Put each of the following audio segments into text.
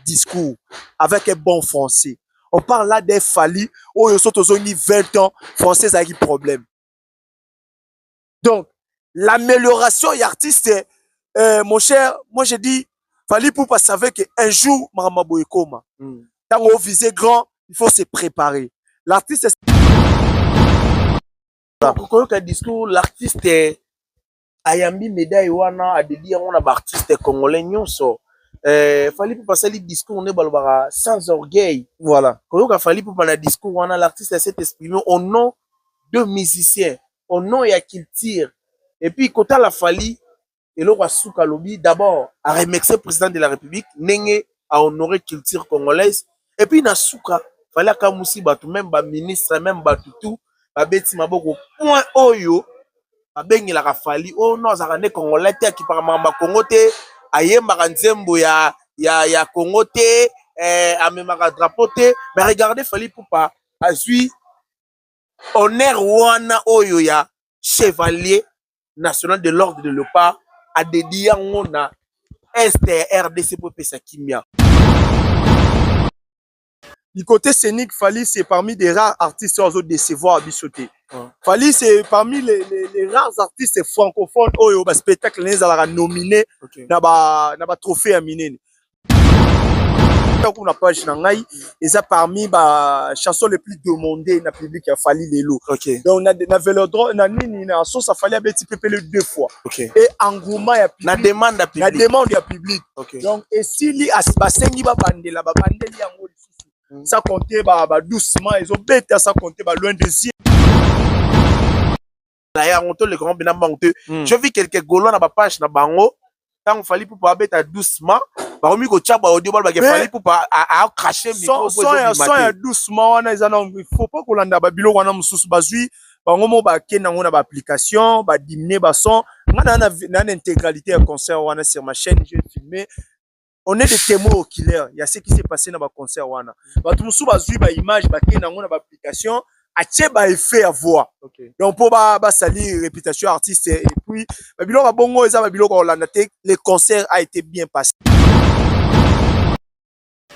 discours avec un bon français on parle là des fali oyo so tozongi 20 ans français ezalaki problème donc l'amélioration et artiste euh, mon cher moi je dis fali poupa savait que un jour makambo boye ekoma hmm. ntango ovise grand il faut se préparer l'artiste koyoka discours l'artiste ayambi medaille wana adedi yango na baartiste congolais nyonso eh, fali pupa asali discours nde balobaka sans orgueil voilà koyoka fali pupa na discours wana l'artiste aset exprime au nom de musicien au nom ya culture et puis kotala fali eloko ya suka alobi d'abord aremercie président de la république ndenge ahonore culture congolaise et puis na suka fale akamusi bato meme ba ministre meme bato tout babeti maboko point oyo babengelaka fali o oh, no azalaka nde congolais te akipaka makambo ya congo te ayembaka nzembo ya, ya, ya congo te eh, amemaka drapeau te mais regardez fali pupa azwi honneur wana oyo ya chevalier national de l'ordre de leopard adedi yango na est ya rdc mpo epesa kimia du côté scénique Fally c'est parmi des rares artistes oyo azo décevoir biso te Fally c'est parmi les, les, les rares artistes francophones oyo ba spectacle na ezalaka nominé okay. na ba na ba trophée ya minene tango na page na ngai eza parmi ba chanson le plus demandé na public ya fali lelo okay. donc na, na velodro na nini na sosa fali abeti pepele deux fois okay. et engouement ya public, na demande ya public, na demande ya public. Okay. donc esili basengi babandela babandeli yango lisusu mm. sans compter ba, ba doucement ezobeta sans compter ba loin des yeux na yango to leka ngo bina mbangu te mm. je vis quelques gaulois na ba page na bango tango fali pupa abeta doucement bakomi kotia ba audio balo bake fali pupa a cracher micro po ezo son ya doucement wana eza na il faut pas kolanda ba biloko wana mosusu bazui bango mo bakenda ngo na ba application ba diminuer ba son nga na na na intégralité ya concert wana sur ma chaîne j'ai filmé on est des témoins oculaires ya ce qui s'est passé na ba concert wana bato mosusu bazwi ba image bakei nango na ba application atie ba effet ya voix okay. donc mpo basali réputation artiste et puis babiloko ya bongo eza babiloko ya kolanda te le concert a été bien passé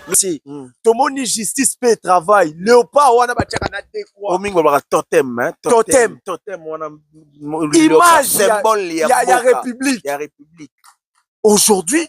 merci mm. tomoni justice mpe travail léopard wana batiaka na dekwa omingi olobaka totem hein? totem totem wana image ya, ya, ya république ya république aujourd'hui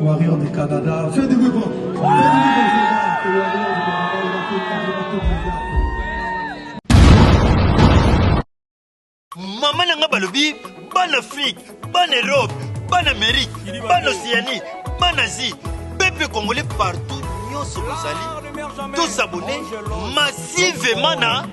Warrior du Canada. Fais du bruit pour. Maman nanga balobi ban Afrique, ban Europe, ban Amérique, ban Océanie, ban Asie, peuple congolais partout, nyonso bozali, tous abonnés massivement na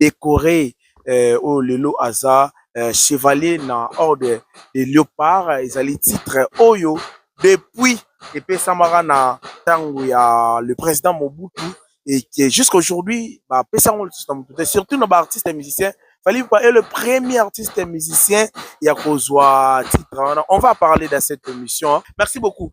decore euh, oyo lelo aza euh, chevalier na ordre de Leopard ezali titre oyo depuis epesamaka na ntango ya le président Mobutu et que jusqu'aujourd'hui bapesa yango lisusu na motu te surtout na baartiste musicien Fally Ipupa est le premier artiste musicien ya kozwa titre wana on va parler dans cette émission merci beaucoup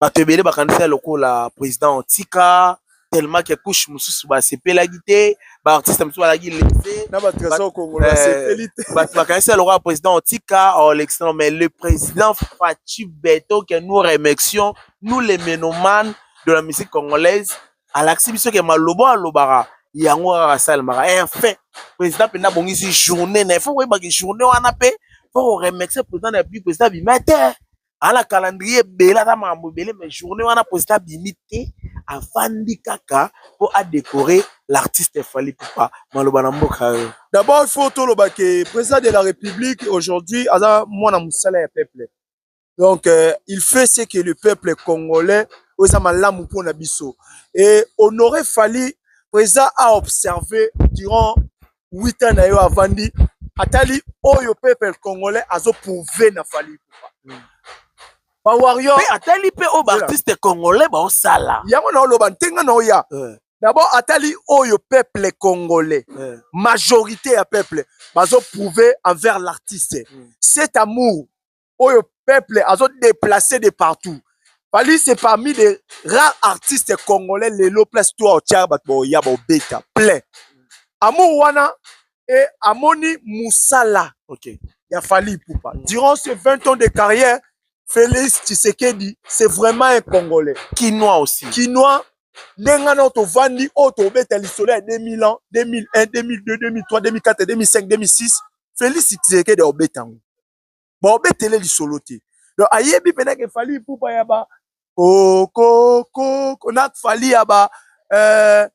bato ebele bakanisa lokola president otika tellement que couche mosusu basepelaki te baartiste mosusu balaki lese bato bakanisa lokola président otika olekisa oh, mais le président faci beto que nous remercions nous les menomanes de la musique congolaise alakisi biso ke malobo alobaka yango kaka asalemaka enfin président mpenza abongisi journée na ye fo koyebaki journée wana mpe fo koremercie président na république président abima te ana calendrier ebele aza makambo ebele mais journée wana president abimi te afandi kaka mpo adécorer l'artiste fali ipupa maloba na mboka yo d'abord il faut toloba ke président de la république aujourd'hui aza mwana mosala ya peuple donc euh, il fait ce que le peuple congolais oyo eza malamu mpo na biso et honore fali président a observé durant 8 ans na yo avandi atali oyo peuple congolais azo prouver na Fally Ipupa mm. ba warrior pe atali pe oyo ba artiste congolais ba osala yango na oloba ntenga na oya euh. d'abord atali oyo peuple congolais euh. majorité ya peuple bazo prouver envers l'artiste mm. cet amour oyo peuple azo deplacer de partout Fally c'est parmi les rares artistes congolais lelo place toi otia bato baoya baobeta plein amour wana e amoni mosala okay. ya Fally Ipupa mm. durant ces 20 ans de carrière Félix Tshisekedi c'est vraiment un congolais kinois aussi kinois ndenge wana oyo tovandi oyo tobeta lisolo ya 2000 ans 2001 2002 2003 2004 2005 2006 Félix Tshisekedi aobeta yango baobetele lisolo te donc ayebi mpenza ke fali ipupa ya ba kokokoko na fali ya ba euh,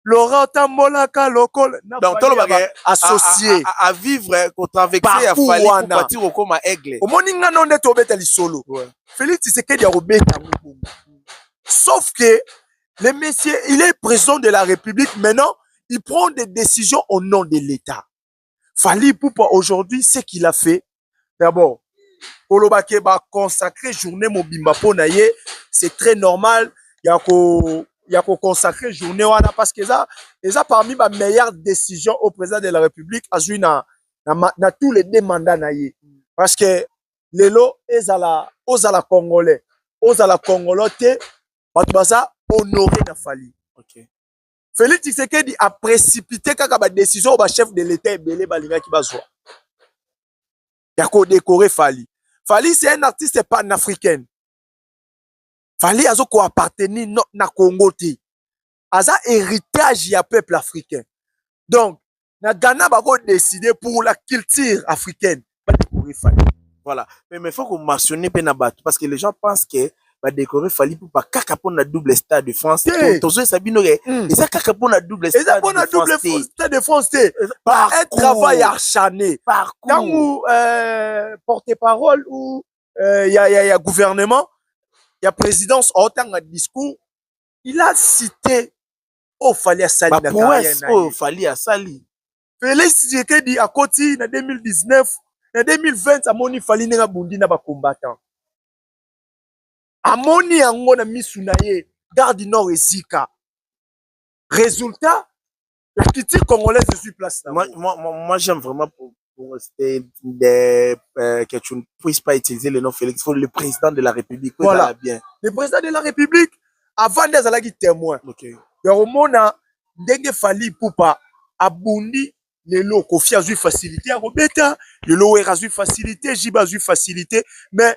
laurent tambolaka lokola donc tolobaka associe à vivre kotraverse ya fali ipupa ti kokoma aigle omoni nga no nde tobeta lisolo félix tisekedi akobeta yango bongo sauf que le monsieur il est président de la république maintenant il prend des décisions au nom de l'état Fally Ipupa aujourd'hui ce qu'il a fait d'abord koloba ke ba consacrer journée mobimba mpo na ye c'est très normal ya ko ya ko consacrer journée wana parce que eza eza parmi ba meilleures décisions au président de la République azui na na, na tous les deux mandats na ye parce que lelo ezala ozala congolais ozala congolais te bato baza honore na Fally okay. Felix Tshisekedi a précipité kaka ba décision ba chef de l'État ebele balingaki bazwa ya ko décorer Fally. Fally c'est un artiste panafricain. Fally azo ko appartenir na Congo te. Aza héritage ya peuple africain. Donc na Ghana bako décider pour la culture africaine ba décorer Fally voilà mais mais faut ko mentionner pe na bato parce que les gens pensent que ba décorer Fally Ipupa kaka mpo na double stade de France te tozoyesa bino ke hmm. eza kaka mpo na double stade eza mpo na double stade de France te par un travail acharné parcours ntango euh, porte parole ou euh, ya ya ya gouvernement ya présidence aotanga discours il a cité oyo fali asali na carrière na oyo fali asali Felix Tshisekedi akoti na 2019 na 2020 amoni fali ndenge abundi na ba combattants amoni yango na misu na ye gare du nord ezika résultat la critique congolaise ezwi place na moi, moi, moi, moi j'aime vraiment pour rester des, euh, que tu ne puisses pas utiliser le nom Félix, il faut le président de la République. Voilà. Bien. Le président de la République, avant des alaki témoin. Okay. yakomona ndenge fali pupa abundi lelo kofi azwi facilité ya kobeta lelo wera azwi facilité jiba azwi facilité mais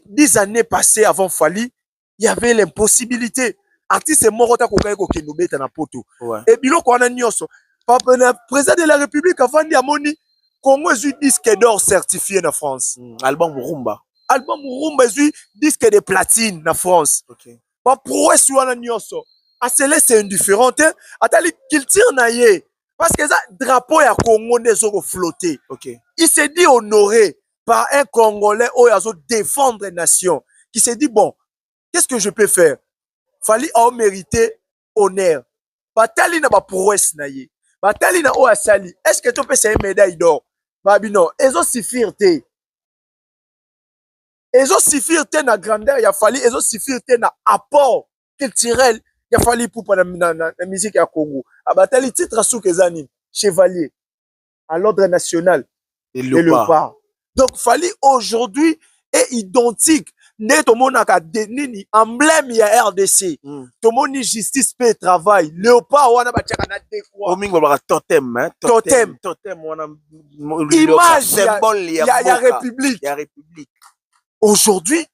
dix années passé avant fali il y avait l'impossibilité artiste moko ta kokaki kokende obeta na poto ouais. e biloko wana nyonso papa na président de la république avandi amoni congo ezwi disque d'or certifié na france mm, album rumba album rumba ezwi disque de platine na france okay. baprouesse wana nyonso aselese indifférent te atali culture na ye parce que eza drapeau ya congo nde ezokoflotte okay. il se dit honoré par un Congolais oyo azo défendre nation qui se dit bon qu'est-ce que je peux faire Fally ao mérité honneur batali na ba prouesse na ye batali na oyo asali est-ce que topesa ye médaille d'or babi non ezo suffire te ezo suffire te na grandeur ya Fally ezo suffire te na apport culturel ya Fally Ipupa na, na, na, na musique ya Congo abatali titre suka eza nini chevalier à l'ordre national et le, et le pas. donc fali aujourd'hui est identique nde tomonaka nini emblème ya rdc mm. tomoni justice mpe travail léopard wana batiaka na dekoamingi olobaka totem hein? totem, totem. wana image ya, ya, ya, ya république ya république aujourd'hui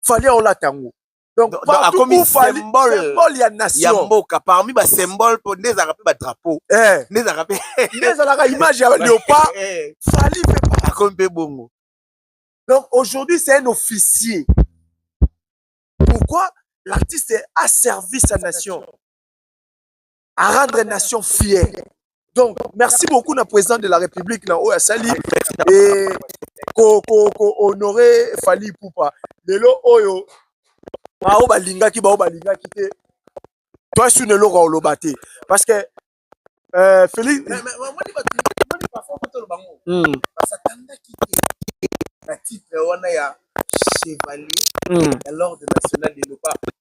fali olata yango donc akomi symbole ya nation ya mboka parmi ba symbole po nde ezalaka mpe ba drapeau eh. nde ezalaka mpe nde ezalaka image ya leopard eh. fali mpe akomi mpe bongo donc aujourd'hui c'est un officier pourquoi l'artiste a servi sa nation à rendre nation fière. Donc, merci beaucoup na président de la République na Oya Sali et ko ko ko honorer Fali Poupa. Lelo oyo bao balingaki bao balingaki te. Toi sur le logo oloba te parce que euh, Félix mais, mais, moi, moi, moi, moi, na titre wana ya chevalier hmm. ya l'ordre national de leopards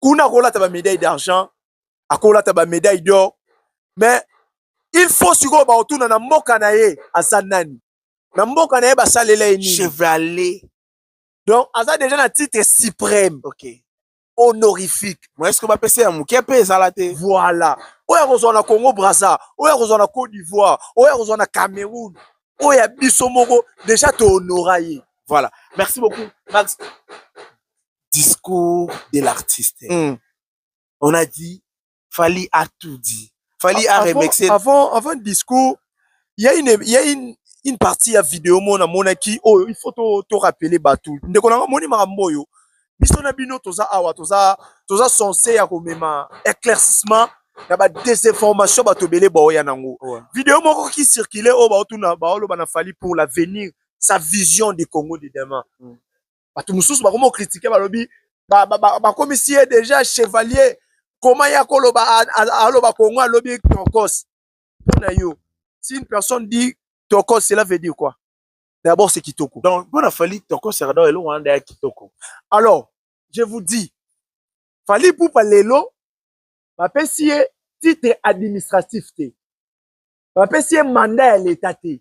kuna akolata ba médaille d'argent akolata ba médaille d'or mais il faut sikoyo bakotuna na mboka na ye aza nani na mboka na ye basalela ye nini chevalier donc aza déjà na titre suprême okay. honorifique mais est ce que bapesa ya moke mpe ezala te voilà oyo akozwa na congo braza oyo akozwa na côte d'ivoire oyo akozwa na cameroun oyo ya biso moko déjà tohonora ye voilà merci beaucoup max discours de l'artiste mm. on a dit fali a tout dit fali a remixé avant avant discours il y a une il y a une une partie ya video moko namonaki oyo oh, il faut to, to rappeler bato ndeko na nga moni makambo oyo biso na bino toza awa toza toza sense ya komema éclaircissement ya badesinformation bato ebele baoya nango ouais. video moko ki circule oyo oh, baotuna baoloba na fali pour l'avenir sa vision du congo de demain mm. bato mosusu bakomi okritike balobi bakomisi ye deja chevalier koma ye akoloba aloba kongo alobi tokos mpo na yo si une personne dit tokos cela veut dire quoi d'abord c'est kitoko donc mpo na fali tokos ardor eloko wana ndaya kitoko alors je vous dis fali pupa lelo bapesi ye titre administratif te bapesi ye mandat ya leta te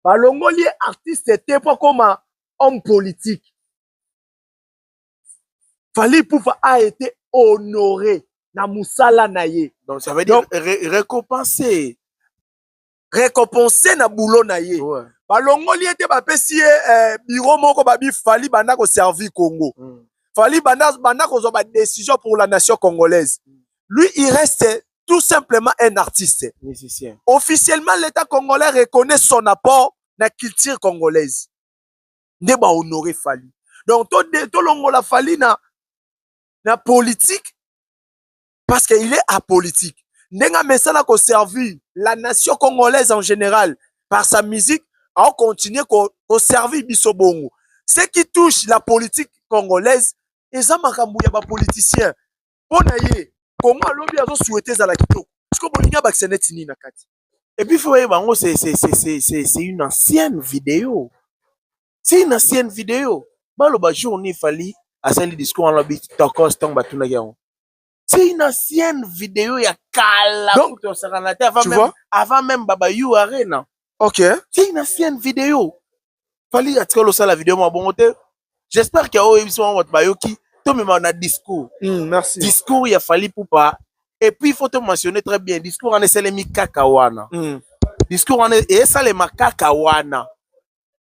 balongoli ye artiste te mpo akoma homme politique fali pupa a été honore na mosala na ye donc ça veut dire donc, ré, récompenser récompenser na boulot na ye ouais. balongoli ye te bapesi ye eh, biro moko babi fali banda koservir congo mm. fali banda, banda kozwa badécision pour la nation congolaise mm. lui il reste tout simplement un artiste musicien officiellement l'état congolais reconnaît son apport na culture congolaise nde ba honore fali donc tolongola to fali na na politique parce qu'il est apolitique ndenge amesana koservir la nation congolaise en général par sa musique aocontinue koservir biso bongo ce qui touche la politique congolaise eza makambo ya bapoliticien mpo na ye kongo alobi azosuete ezala kitoko siko bolingi abakisa neti nini na kati epuis fo oyeba yango c'est une ancienne video c'est une ancienne video baloba jour ni fali asali discours wana lobi tokos ntango batunaki yango c'est une ancienne video ya kala donc tosakana te avant même, avant même baba you arena ok c'est une ancienne video fali atikala osala video mwa bongo te j'espère ke oyebisi mwa bato bayoki tomema na discours mm, merci. discours ya fali pupa et puis il faut to mentionner très bien discours wana esalemi kaka wana mm. discours wana esalema kaka wana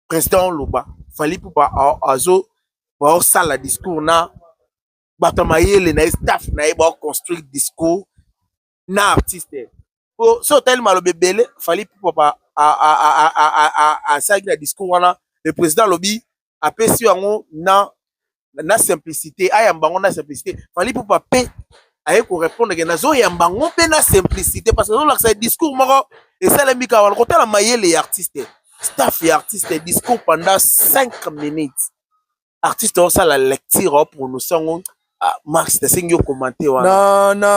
président oloba fali pupa azo baosala discours na bato ya mayele na ye staff na ye baoconstruire discours na artiste po so otali maloba ebele fali papa asalaki na discours wana le président alobi apesi yango na na simplicité ayamba yango na simplicité fali pupa mpe aye korépondre ke nazoyamba yango mpe na simplicité parce que azolakisa discours moko esalemi kaka wana kotala mayele ya artiste staff ya artiste discours pendant 5 minutes artiste osala lecture o prononce yango ah, marx nasengi yo komante wana na na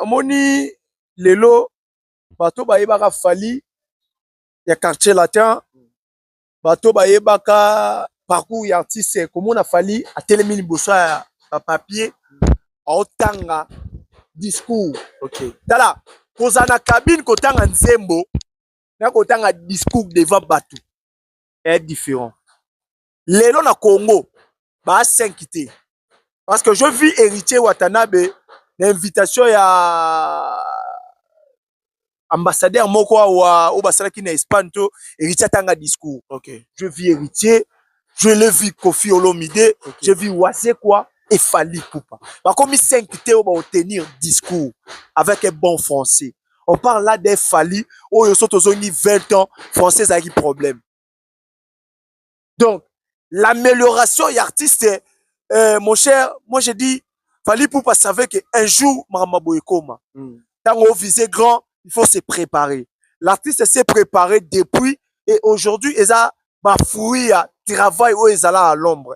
amoni lelo bato bayebaka fali ya quartier latin bato bayebaka parcours ya artiste komona fali atelemi liboso ya bapapier aotanga discours okay. tala kozala na kabine kotanga nzembo na kotanga discours devant bato est différent lelo na congo ba 5 te parce que je vis héritier watanabe na invitation ya ambassadeur moko awa oyo basalaki na espagne to héritier atanga discours okay. je vis héritier je le vis kofi olomide okay. je vis wazekwa efali pupa bakomi 5 te oyo baotenir discours avec un bon français on parle là des fali oyo so tozongi 20 ans français ezalaki problème donc l'amélioration ya artiste euh, mon cher moi je dis fali poupa savait que un jour makambo boye ekoma mm. ntango ovise grand il faut se préparer l'artiste s'est préparé depuis et aujourd'hui eza bafruit ya travail oyo ezala à l'ombre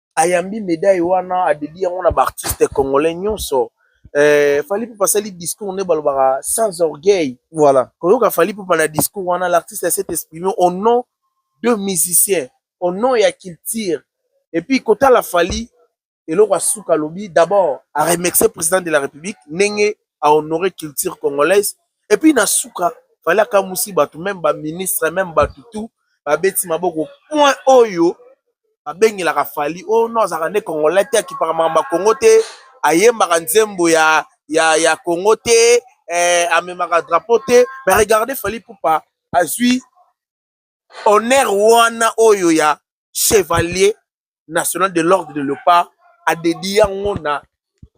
ayambi medaille wana adedi yango na baartiste congolais nyonso eh, fali pupa asali discours nde balobaka sans orgueil voilà koyoka fali pupa na discours wana l'artiste aset exprime au nom de musicien au nom ya culture et puis kotala fali eloko asuka alobi d'abord aremercie président de la république ndenge ahonore culture congolaise et puis na suka fale akamusi bato meme ba ministre meme bato tout babeti maboko point oyo babengelaka fali o oh, no azalaka nde congolais te akipaka makambo ya kongo te ayembaka nzembo ya, ya, ya kongo te eh, amemaka drapeau te mais regardez fali pupa azwi honneur wana oyo ya chevalier national de l'ordre de leopard adedi yango na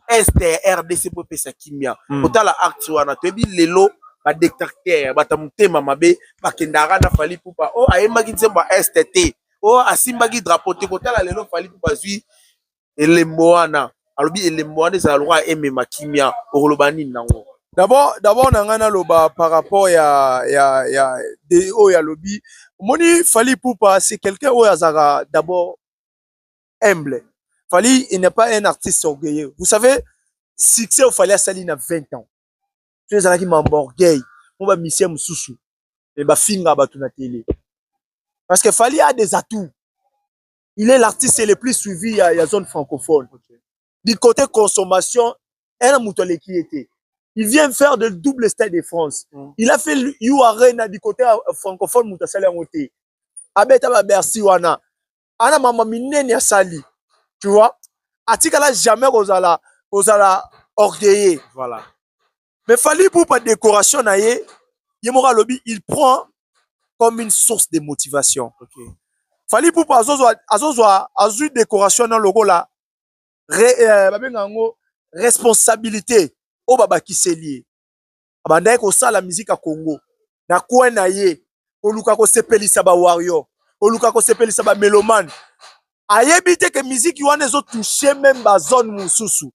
este ya rdc mpo epesa kimia mm. kotala acte wana toyebi lelo badetactere bata motema mabe bakendaka na fali pupa o oh, ayembaki nzembo ya este te o oh, asimbaki drapo te kotala lelo fali pupa azwi elembo wana alobi elembo wana ezala lokola emema kimia okoloba nini nango D'abord, d'abord na ngai naloba par rapport ya ya ya de oyo alobi omoni Fally Ipupa c'est quelqu'un oyo azalaka d'abord humble. Fally il n'est pas un artiste orgueilleux. Vous savez succès oyo Fally asali na 20 ans to ezalaki mambo orgueil mpo ba musicien mosusu me bafinga bato na tele parce que Fally a des atouts il est l'artiste le plus suivi ya, ya zone francophone okay. du côté consommation ena moto aleki ye te il vient faire de double stade de france mm. il a fait u arena du côté euh, francophone moto asali yango te abeta ba bercy wana ana mama minene asali tu vois atikala jamais kozala kozala orgueilleux voilà mais fali ipupa décoration na ye ye moko alobi il prend comme une source de motivation okay. fali ipupa azozwa azozwa azwi décoration na lokola re, euh, babenga yango responsabilité oyo babakiseli ye abandaki kosala miziki ya congo na coin na ye koluka kosepelisa ba warrior koluka kosepelisa ba melomane ayebi te ke miziki wana ezotouche meme bazone mosusu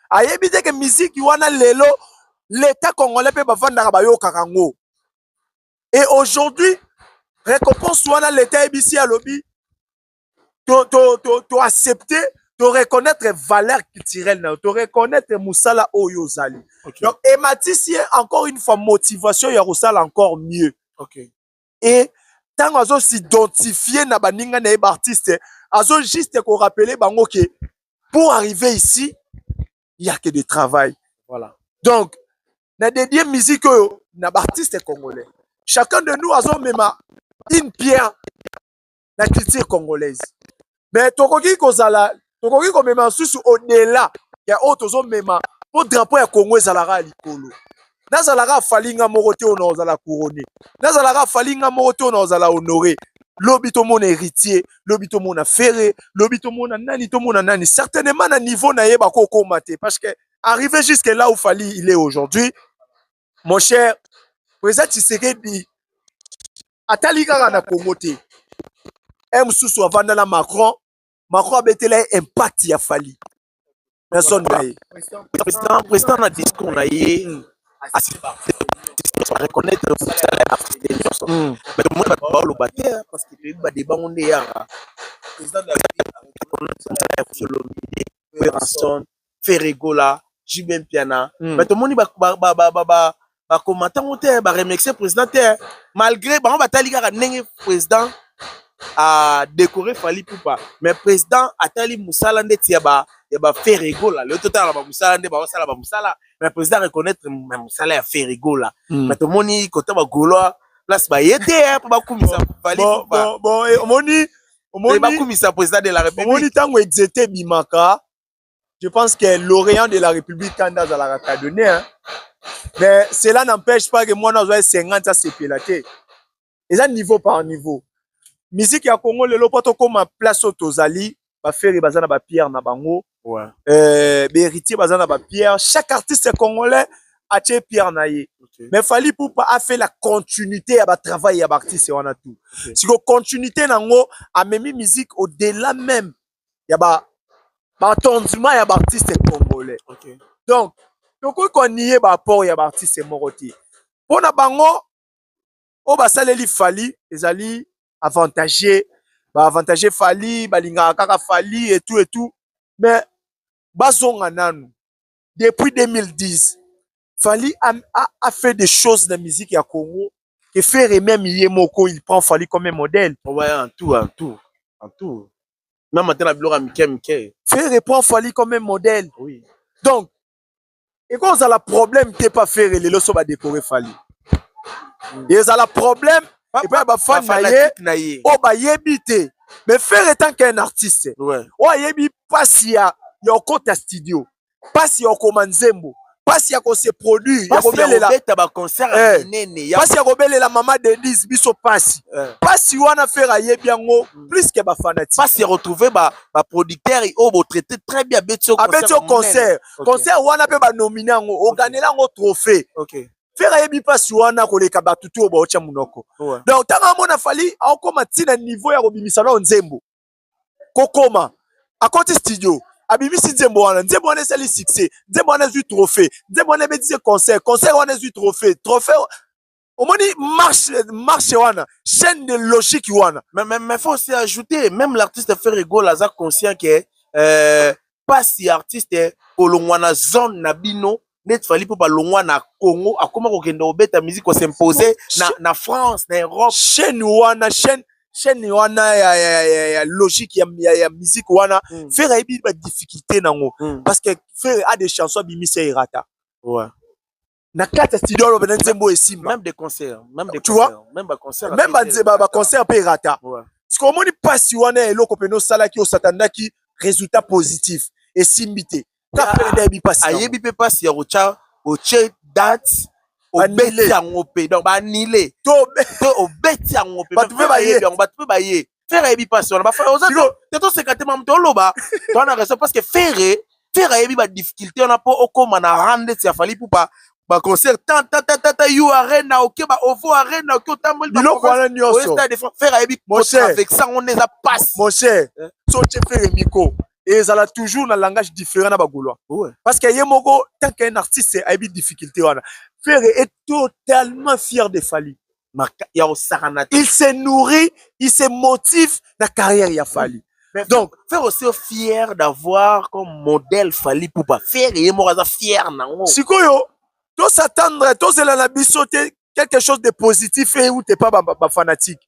ayebi te ke miziki wana lelo leta congolais mpe bafandaka bayokaka yango e aujourd'hui récompense wana leta ayebisi alobi to, to, to, to accepter to reconnaître valeur culturelle na yo to reconnaître mosala oyo ozali okay. donc ematisi ye encore une fois motivation ya kosala encore mieux okay. et tango azo s'identifier na baninga na ye ba artiste azo juste ko rappeler bango ke pour arriver ici il y a que de travail voilà donc na dédier musique oyo na ba artiste congolais chacun de nous azo mema une pierre na culture congolaise mais tokoki kozala tokoki komema lisusu odela ya oyo tozomema mpo drapo ya congo ezalaka ya likolo nazalaka afali nga moko te oyo nakozala couronne nazalaka afali nga moko te oyo nakozala honore lobi tomona héritier lobi tomona ferre lobi tomona nani tomona nani certainement na niveau na ye bakokoma te parce que arrivé jusque là où fali il est aujourd'hui Mon cher, President Tshisekedi atali kaka na Congo te. Ye mosusu avanda na Macron, Macron abetela ye impact ya Fally na zone na ye. President, president na discours na ye mm. reconnaître mosala ya afrique nyonso mm. mais tomoni bato baoloba te parce que toyebi badeba ngo nde yaka mosala ya kosolomide werrason Ferre Gola, JB Mpiana. Mm. Mais tomoni ba ba ba ba, ba, ba ba combattant ngo te ba remercier président te malgré bango batali kaka ndenge président a décoré Fally Poupa mais président atali musala ndeti ya ba ya ba Ferre Gola le total ba musala nde ba sala ba musala mais président reconnaître mais musala ya Ferre Gola mm. mais tomoni kota ba Golois place ba yete po ba kumisa Fally Poupa bon bon omoni omoni bakumisa président de la république omoni tango exete bimaka je pense que l'orient de la république kande azalaka cadonne hein? mais cela n'empêche pas que mwana azwa 50 asepela te eza niveau par niveau miziki ya congo lelo mpo tokóma place oyo tozali bafere baza na bapierre na bango ouais. euh, baheritier baza na bapierre chaque artiste congolais atie pierre na ye okay. mais fali pupa afe la continuité ya batravail ya baartiste wana tout okay. siko continuité na yango amemi musique au delà même ya ba ba tondima ya ba artistes congolais okay. donc tokoki koniye ba apport ya ba artistes moko te mpo na bango oyo basaleli fali ezali avantage ba avantage fali balingaka kaka fali et tout et tout mais bazonga nanu depuis 2010 Fally a, a, a fait des choses na musique ya Congo que Ferre même ye moko il prend Fally comme un modèle. Oh, ouais, en tout, en tout, en tout. Même atela biloko ya mike mike. Ferre prend Fally comme un modèle. Oui. Donc ekoki kozala problème te pa Ferre lelo so badekore Fally. Mm. Ezala problème epai ya bafani na ye oyo bayebi te mais Ferre etant qu'un artiste oyo ayebi mpasi ya ya okota studio pasi ya kokoma nzembo pasi ya kose produire ya kobelela beta ba concert ya eh. nene ya pasi ya kobelela mama Denise biso pasi eh. pasi wana fera yebi yango mm. plus que ba fanatique pasi ya retrouver ba ba producteurs au bo traiter très bien beti au concert abeti au concert concert wana pe ba nominer yango o gagner yango trophée okay fera yebi pasi wana koleka bato to baotya monoko donc ntango amona fali aokoma ntina niveau ya kobimisa nao nzembo kokoma akoti studio abimisi nzembo wana nzembo wana esali succès nzembo wana ezwi trophée nzembo wana ebetisi concert concert wana ezwi trophée trophée omoni marche marche wana chaîne de logique wana mais, mais, mais faut aussi ajouter même l'artiste ferre gola aza conscient que euh, pasi ya artiste kolongwa na zone na bino neti fali mpo balongwa na congo akoma kokende kobeta musique kosimpose na, na france na europe chaîne wana chaîne chaîne wana ya, ya, ya, ya logique ya, ya, ya musique wana mm. fere ayebi badifficulté nango mm. parce que fere a des chansons abimisa erata ouais. na kati ya studio aloba na nzembo oyo esimba même des concerts même des tu vois même ba concerts même ba nzembo ba concerts pe rata siko omoni pasi wana ya eloko pe no salaki osatanaki résultat positif esimbi te kaka pe nda yebi pasi ayebi pe pasi ya kocha oche date obeti yango mpe donc baanile to obeti yango mpe bato mpe bayebi yango bato mpe baye Ferre ayebi pasi wana. Ba frère oza te to seka te mamu to loba. To na raison parce que Ferre Ferre ayebi ba difficulté wana po okoma na rande ya Fally Ipupa ba concert ta ta ta ta ta you arena ok ba ovo arena ok otamboli ba biloko wana nyoso stade de Ferre ayebi ko avec ça on eza passe mon cher eh. so che Ferre miko ezala toujours na langage différent na ba gaulois ouais. parce que ye moko tant qu'un artiste ayebi difficulté wana Ferre est totalement fier de Fally ya kosakana te il se nourrit il se motive na carrière ya fali Mais donc faire aussi fier d'avoir comme modèle fali pupa fier ye moko aza fier nango sikoyo tosatandre tozela na biso te quelque chose de positif euti epa bafanatique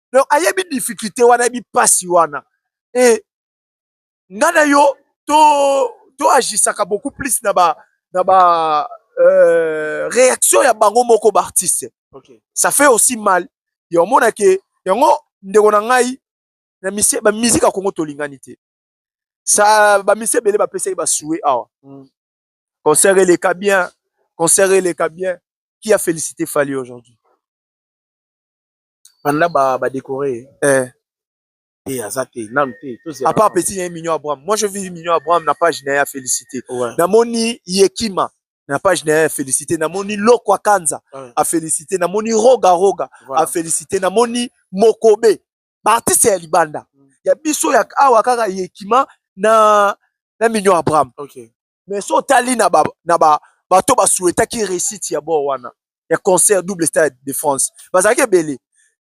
donc ayebi difficulté wana ayebi pasi wana et nga na yo to to agisaka beaucoup plus na ba na ba euh, réaction ya bango moko ba artiste okay. ça fait aussi mal ya omona ke yango ndeko na ngai na misie ba musique ya Congo tolingani te ça ba misie bele ba pesaki ba souhait awa mm. concert eleka bien concert eleka bien qui a félicité Fally aujourd'hui banda ba ba décorer eh te aza te nanu te tozela apart petit naye mignon abraham moi je vis mignon abraham na page naye ya félicité ouais. namoni yekima na page naye ya félicité namoni loko akanza ouais. a félicité namoni roga roga voilà. a félicité namoni mokobe baartiste ya libanda mm. ya biso ya awa kaka yekima na na mignon abraham okay. mais so otali na ba na ba bato basuetaki réussite ya bord wana ya concert double stade de france bazalaki ebele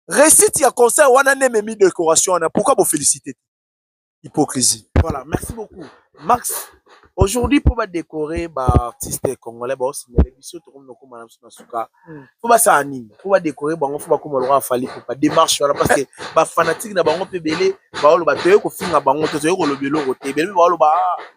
réussite ya concert wana nde ememi décoration wana pourquoi bofélicité te hypocrisie voilà merci beaucoup max aujourd'hui mpo badécore baartiste congolais baosignale biso tokomi nokoma na biso na suka mpo basala nini mpo badécore bango mpo bakoma lokola fali popa démarche wana parce que bafanatike na bango mpe ebele baoloba toyei kofinga bango to toyei koloba eloko te ebele mpe baoloba ah,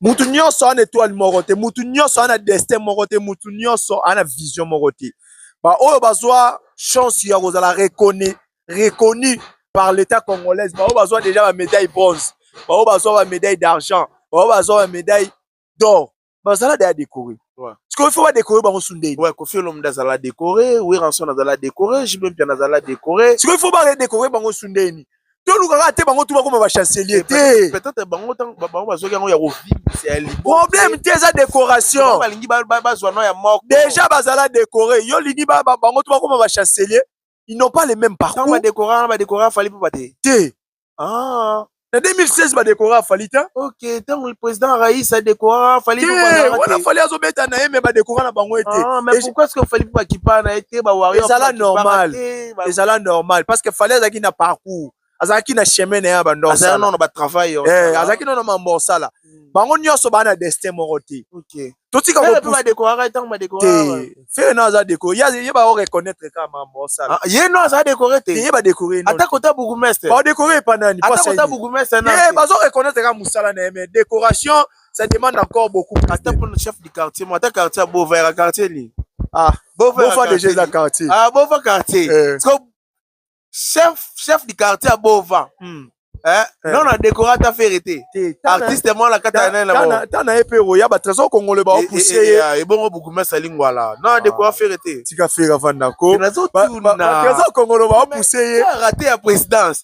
mutu nyonso aza na etoile moko te mutu nyonso aza na destin moko te mutu nyonso aza na vision moko te baoyo bazwa chance ya kozala reconi reconi par l'état congolaise baoyo bazwa déjà bamédaille bronze baoyo bazwa bamédaille d'argent baoyo bazwa bamédaille d'or bazala deya décoré sikoyo fo badécoré bango sundei ouais, kofi olomda azala décoré weranson azala décoré jibempiana azala décoré sikoyo fo baredécoré bango sundeni toluka kaka te bango tu bakoma bachancelier te peut-être bango bango bazwaki yango ya kovimbisa ya libo problème te eza décoration balingi bazwa no ya moko déjà bazala décoré yo lingi bango tu bakoma bachancelier ils n'ont pas les mêmes parcours badécora badécora afali mpo bate te ah. na 2016 badécora afali te ok ntango président rais adécora afali wana fali azobeta na ye me badécora na bango ete ah, pourquoi ce que fali mpo bakipa na ye te bawario ezala normal ezala normal parce que fallait azalaki na parcours azalaki na chemin na ye ya bandoo azalaki nono batravail eh, azalaki nono mambo osala hmm. bango nyonso baa na destin moko te totika fere no aza dekore ye bao reconnaitre ka mambo osala ah, ye no aza dekore te ye badekore ata kota bourgmestre badekore epa nani bazo reconnaitre ka mosala na ye mais décoration ça demande encore beaucoup ata pour le chef du quartier moi ata quartier ya bova yaka quartier nini ah bova déjà eza quartier ah bova quartier eh. chef chef du quartier ya bova hmm. Eh, eh. non na décoré ata fere te artiste mwa na kati ta na ye mpe oya batrésor congolais baopousse ye ebongo bourgmestre alingwala non na décoré fere te tika fere avandako trésor congolais baopousse ye rate ya présidence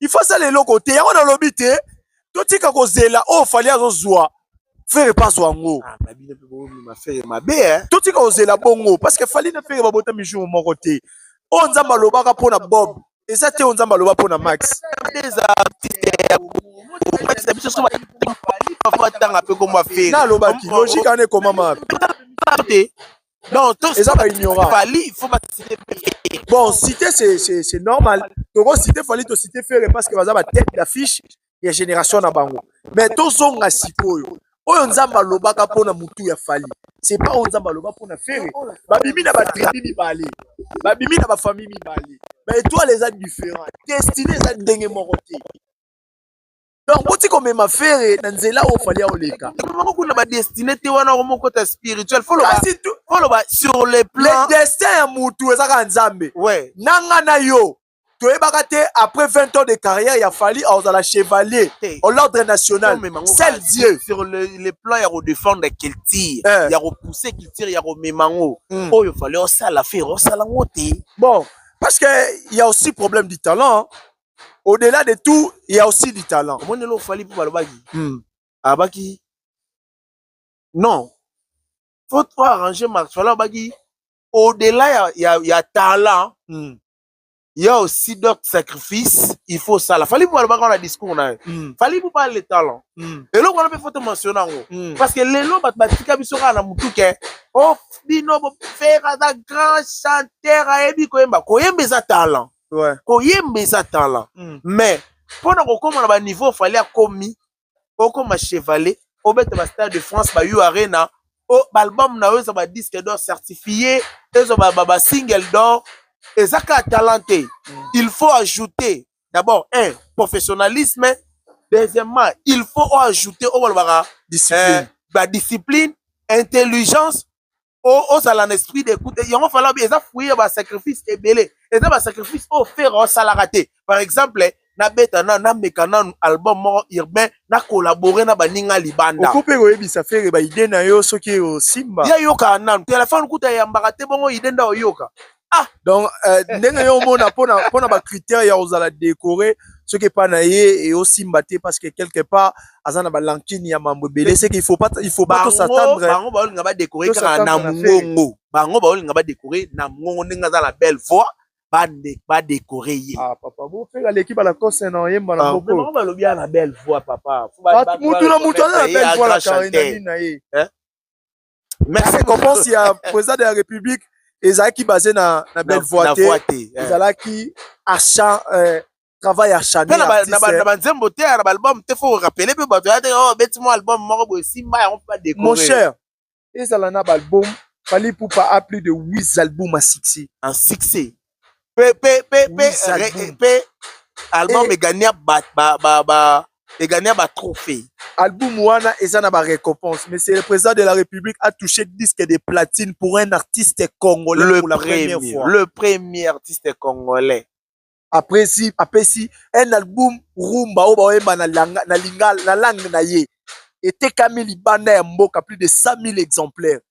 il faut asala eloko te yango nalobi te totika kozela oyo fali azozwa fere pas azwa yango ah, eh. totika kozela bongo parce que fali na fere babotami jour moko te oyo nzambe alobaka mpo na bob eza te oyo nzambe aloba mpo na max nalobaki logike wana ekomama te Non, tous eza ba ignorant. Fali, il faut ba citer Bon, citer c'est c'est c'est normal. Toko citer Fali to citer Ferre parce que baza ba tête d'affiche ya génération na bango. Mais to zonga sikoyo. Oyo Nzamba alobaka pona mutu ya Fali. C'est pas oyo Nzamba aloba pona Ferre. Ba bimi na ba tribu mibale. Ba bimi na ba famille mibale. Ba étoiles eza différent. Destiné eza ndenge moko te. donc boti komema fere na nzela oyo fali aoleka kuna badestine te wana okomokota spirituel foloba sur le plan destin ya mutu eza kaka nzambe ouais. na nga na yo toyebaka te après 20 ans de carrière ya fali akozala chevalier au l'ordre national sel dieu sur le, le plan ya kodefendre culture eh. ya kopousse culture ya komema yango hmm. oyo fali osala fere osala yango te bon parce que ya aussi problème du talent au-delà de tout il y a aussi du talent omoni lelo ofali mpo balobaki hmm. abaki non faut to arranger marc fala abaki au-delà ya, ya, ya talent hmm. il y a aussi d'autres sacrifices il faut sala fali mpo alobaka na discours na ye hmm. fali mpo pale talent hmm. eloko wana mpe faut tomensiona yango hmm. parce que lelo bato batika biso kaka na motuke o oh, bino bofera aza grand chanteur ayebi koyemba koyemba eza talent ouais. koyemba eza talent mm. mais mpo na kokoma na baniveau ofali akomi okoma chevalier obeta ba stade de france ba u arena o baalbum na yo eza ba disque d'or certifie eza basingle d'or eza kaka talent te mm. il faut ajouter d'abord un professionnalisme deuxièmement il faut oajouter oyo balobaka badiscipline eh, intelligence ozala na esprit d'écoute yango fala bi eza fruit ya basacrifice ebele eza basacrifice oyo fere osalaka te par exemple nabeta na nameka nanu album moko urbain na collabore na baninga libanda oko mpe koyebisa fere baide na yo soki osimba ye ayokaka nanu telefone kuta eyambaka te bongo ide nda oyoka ah donc euh, ndenge yo omona mpona mpona bacritère ya kozala décoré soki epai na ye eosimba te parce que quelque part aza na balankini ya mambo ebele seke il faut pas il faut pas tosatendre bango baolinga badécoré kaka na mongongo bango baolinga badécoré na mongongo ndenge aza la belle voix badécoré ye ah, papa bofeka aleki balakose na oyemba na bokobango ah, balobi ya na belle voix papa mutu na mutu aza na belle voix na carine na ye eh? merci récompense ya président de la république ezalaki basé na na belle voix te eh. ezalaki achan euh, travail achan na banzembo te na baalbum te faut rappeler mpe bato ya te oh, beti mwa album moko boye simba yango mpe badekore mon cher ezala na baalbum fali pupa a plus de 8 album à succès en succès pe pe pe pe re- pe album Eh. egania ba ba ba ba egania ba trophée album wana eza na ba récompense mais c'est le président de la république a touché disque de platine pour un artiste congolais le pour la premier première fois le premier artiste congolais apesi apesi un album rumba oyo baoyemba na langa- na lingala- na langue na ye etekami libanda ya mboka plus de 100 000 exemplaires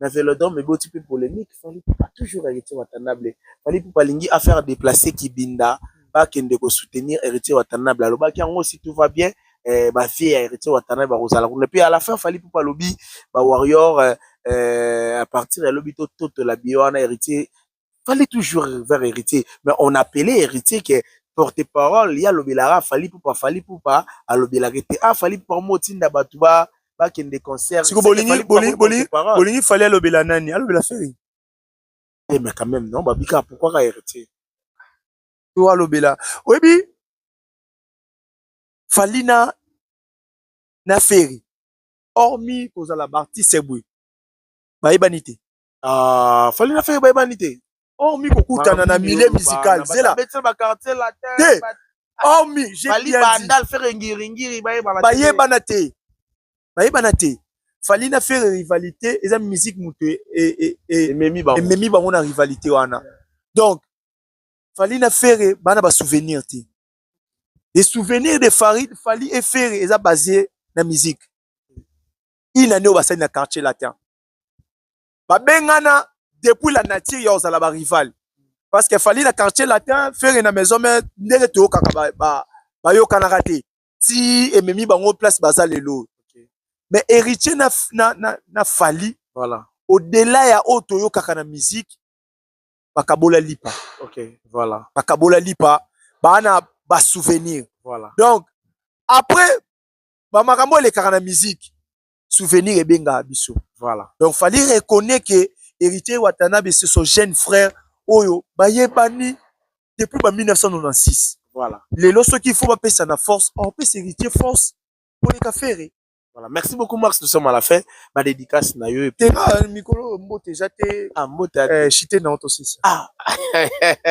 na velodrome eboti mpe polemique fali pupa toujours héritier watanable fali pupa alingi affaire déplacer kibinda bakende kosoutenir héritier watanable alobaki yango si tout va bien eh, bavie ya héritier watanable bakozala kuna mpe à la fin fali pupa alobi bawarrior eh, eh, à partir ya lobi tototola biye wana héritier fallait toujours vers héritier mais on appelait héritier que porte parole ya lobelaka fali pupa fali pupa alobelaka ete ah fali pupa mo tinda bato ba bakende concert siko bolingi bolingi bolingi bolingi fali alobela nani alobela feri eh mais quand même non babika pourquoi ka héritier to alobela oyebi fali na na feri hormis kozala baartiste boye bayebani te Ah, fali na feye bayebani te hormi oh, kokutana na milieu musical zela te hormi bayebana te bayebana te fali na fere rivalité eza musique moto e, e, e, ememi bango na rivalité wana donc fali na fere bana basouvenir te les souvenirs de fali, fali e fere eza basé na musique une année oyo basali na quartier latin babengana depuis la nature ya kozala barival parce que fali na quartier latin fere na maison mare ndenge toyokaka bayokanaka ba, ba te ti ememi bango place baza lelo okay. mais héritier na, na, na, na fali voilà. au-delà ya oyo toyokaka na musique bakabola lipa okay. voilà. bakabola lipa baa na basouvenir voilà. donc après bamakambo elekaka na musique souvenir ebengaka biso voilà donc fallait reconnaître que héritier watanabe c'est son jeune frère oyo bayebani depuis ba 1996 voilà lelo soki faut bapesa na force on peut héritier force pour les cafés Voilà, merci beaucoup Max, nous sommes à la fin. Ma dédicace na yo. Te ah, mikolo mbote jate. Ah mbote. Eh, chite na oto sisi. Ah.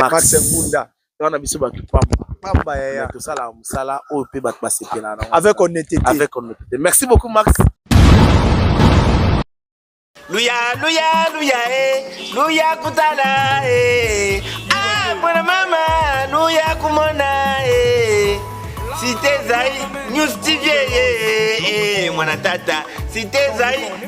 Max Ngunda. wana biso bato pamba pamba yaya tosalaka mosala oyo mpe bato basepela na avec honnêteté avec honnêteté merci beaucoup max luya luya luya e eh. luya kutala e eh. ah mwana mama luya kumona e eh. site ezali news tv e mwana tata site ezali